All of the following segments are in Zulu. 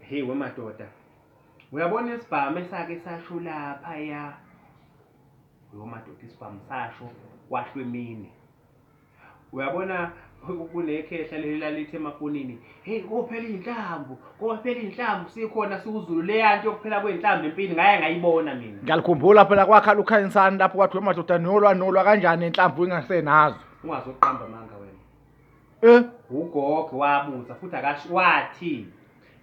Hey wemadoda. Uyabona isibhamu esake sasho lapha ya. Yo madoda isibhamu sasho kwahlwa emini. Uyabona kunekhehla leli lalithi emafonini, hey kophela iy'nhlamvu, kophela iy'nhlamvu sikhona siwuzulu leya nto yokuphela kwey'nhlamvu empini ngaye ngayibona mina. Ngiyalikhumbula phela kwakhala ukhayinsani lapho kwathiwa madoda nolwa nolwa kanjani inhlamvu ingasenazo. Ungazoqamba amanga wena. Eh? UGog wabuza futhi akasho wathi,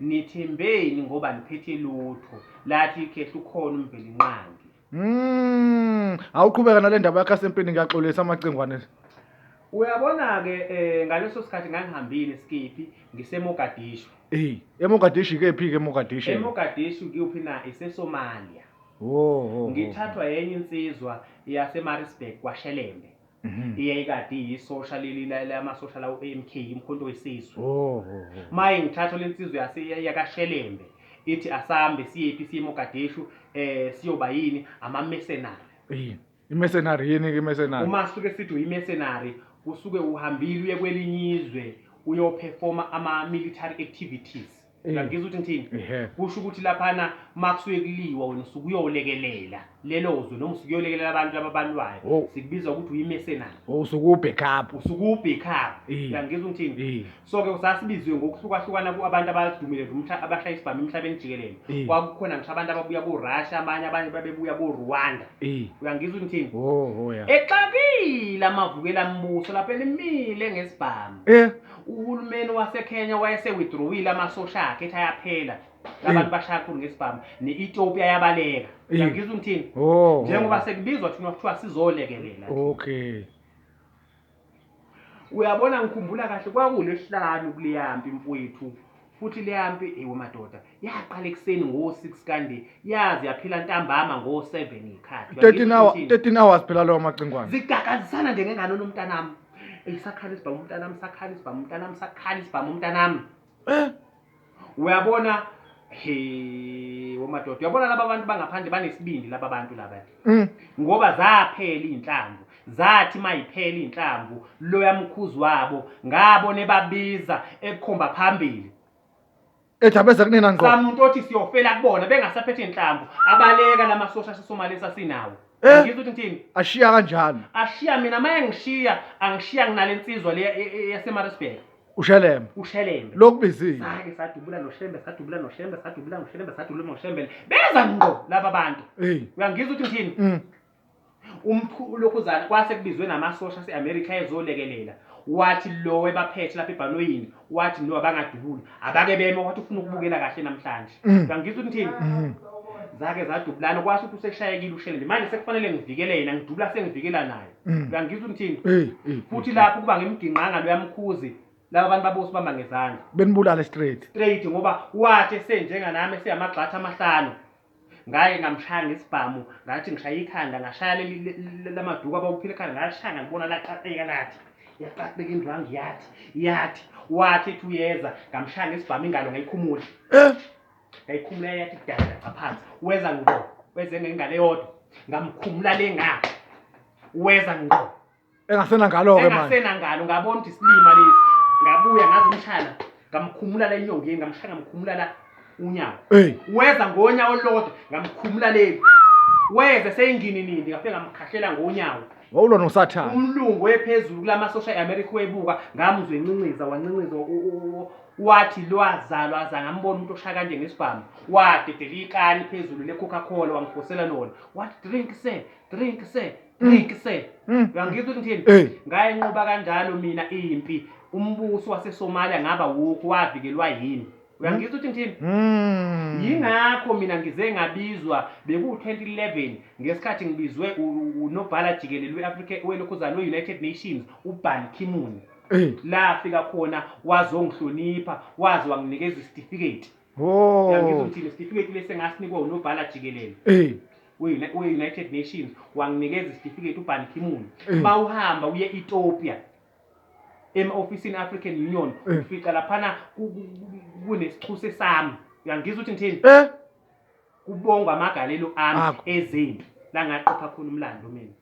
Nithembeni ngoba niphethe lutho. Lathi ikhehla ukhona uMvelinqangi. Mm, awuqhubeka nale ndaba yakho asempini ngiyaxolisa amacingwane. Uyabona-ke um ngaleso sikhathi ngangihambile eSkiphi ngiseMogadishu. Eyi, eMogadishu ikephi-ke eMogadishu? EMogadishu kuyuphi na? IseSomalia. Wo, wo, wo. Ngithathwa yenye insizwa yaseMaritzburg kwaShelembe. Mhm. iyayikade iyisosha leli la- la- amasosha lawo AMK imkhonto wesizwe Oh, oh, oh. maye ngithatha lensizwe yase- yakashelembe ithi asambe siyephi siye mogadeshu eh siyoba yini amamercenary Yini? Imercenary yini ke imercenary? uma suke sithi uyimercenary usuke uhambile uye kwelinye izwe uyoperforma ama-military activities uyangizwa ukuthi ngithini Ehhe. kusho ukuthi laphana uma kusuke kuliwa wena usuke uyolekelela lelo zwe noma usuke uyolekelela abantu laba balwayo Oh. sikubiza ukuthi uyimesenari Oh, usuke ubhack up. usuke uwubhekhayo Eh. uyangizwa ukuthi ngithini Eh. so-ke usasibizwe ngokuhlukahlukana ku- abantu abadumile umhla- abashaya isibhamu emhlabeni jikelele Eh. kwakukhona ngisho abantu ababuya korussia abanye abanye babebuya korwanda Eh. uyangizwa ukuthi ngithini Oh, oh ya. exakile amavukela mbuso lapho elimile ngesibhamu Eh. uhulumeni waseKenya wayese-withdrawile amasosha akhe ethi ayaphela labantu bashaya kakhulu ngesibhamu ne-ethiopia yabaleka uyangizwa umthini oh. njengoba sekubizwa thina kuthiwa sizolekelela okay uyabona ngikhumbula kahle kwakulesihlanu kuleyampi mfowethu Futhi leya mpi ewe madoda yaqala ekuseni ngo 6 kanti yaze yaphela ntambama ngo 7 ikhathi. 13 hours 13 hours phela lawo macingwane. Zigakazisana nje ngengane nomntanami. Isakhala isibhamu umntanami sakhala isibhamu umntanami sakhala isibhamu umntanami. Eh uyabona he womadoda uyabona laba bantu bangaphandle banesibindi laba bantu laba. Mm. ngoba zaphela iy'nhlamvu zathi mayiphela iy'nhlamvu loya mkhuzi wabo ngabona ebabiza ekukhomba phambili ethi abeze kunina ngqo samuntu othi siyofela kubona bengasaphethe iy'nhlamvu abaleka la masosha sesomali sasinawo Eh. ngizwa ukuthi ngithini ashiya kanjani ashiya mina uma engishiya angishiya nginale nsizwa le e- e- yasemarisburg ushelembe ushelembe lokubizile sake sadubula noshembe sadubula noshembe sadubula noshembe sadubula noshembe beza ngqo laba bantu uyangizwa ukuthi ngithini mm. umlokhuzana kwase kubizwe namasosha ase-amerika ezolekelela wathi lo ebaphethe lapha ebhanoyini wathi no abangadubuli abake beme wathi ufuna ukubukela kahle namhlanje mm. uyangizwa ukuthi ngithini mm. zake zadubulana kwasho ukuthi useshayekile ushelele manje sekufanele ngivikele yena ngidubula sengivikela naye Mm. uyangizwa umthini futhi lapho kuba ngimginqanga lo yamkhuzi laba bantu babusi bamba ngezandla benibulale straight straight ngoba wathi esenjenga nami esiyamagxatha amahlanu ngaye ngamshaya ngesibhamu ngathi ngishaya ikhanda ngashaya lamaduku abawuphile ekhanda ngashaya ngalibona laqaqeka lathi yaqaqeka indwangu yathi yathi wathi ethi uyeza ngamshaya ngesibhamu ingalo ngayikhumula eh? ngayikhumula yathi kudala lapha phansi weza ngqo weze ngengane yodwa ngamkhumula le ngapha weza ngqo engasena ngalo ke manje engasena ngalo ngabona ukuthi silima lesi ngabuya ngazi umshana ngamkhumula la enyongeni ngamshaya ngamkhumula la unyawo hey weza ngonya olodwa ngamkhumula le weze seyingini nini ngafe ngamkhahlela ngonyawo wawulwa nosathane umlungu wephezulu kulamasosha eAmerica webuka ngamuzwe encinciza wancinciza Wathi lwazalwa aza ngambona umuntu oshaya kanje ngesibhamu, wadedela ikani phezulu le-Coca Cola wangiphosela lona, wathi drink sir, drink sir, drink sir. Uyangizwa ukuthi ngithini? Hey. Ngayinqoba kanjalo mina impi. Umbuso waseSomalia ngabe awukho, wavikelwa yini? Uyangizwa ukuthi ngithini? Yingakho mina ngize ngabizwa beku-2011 ngesikhathi ngibizwe u- u- unobhala jikelele we-Afrika welokhuzana we-United Nations uBan Ki-moon. Eh. la afika khona waze wangihlonipha waze wanginikeza isitifiketi Oh. yangizwa ukuthi nesitifiketi lesi engasinikwa unobhala jikelele Eh. we-Uni- we-united nations wanginikeza isitifiketi uban kimuni Eh. bawuhamba uye ethiopia ema-ofisini african union Eh. ufica laphana ku- ku- ku- kunesichuse sami uyangizwa ukuthi ngithini Eh. kubongwa amagalelo ami Akho. ezempi la ngaqopha khona umlando mina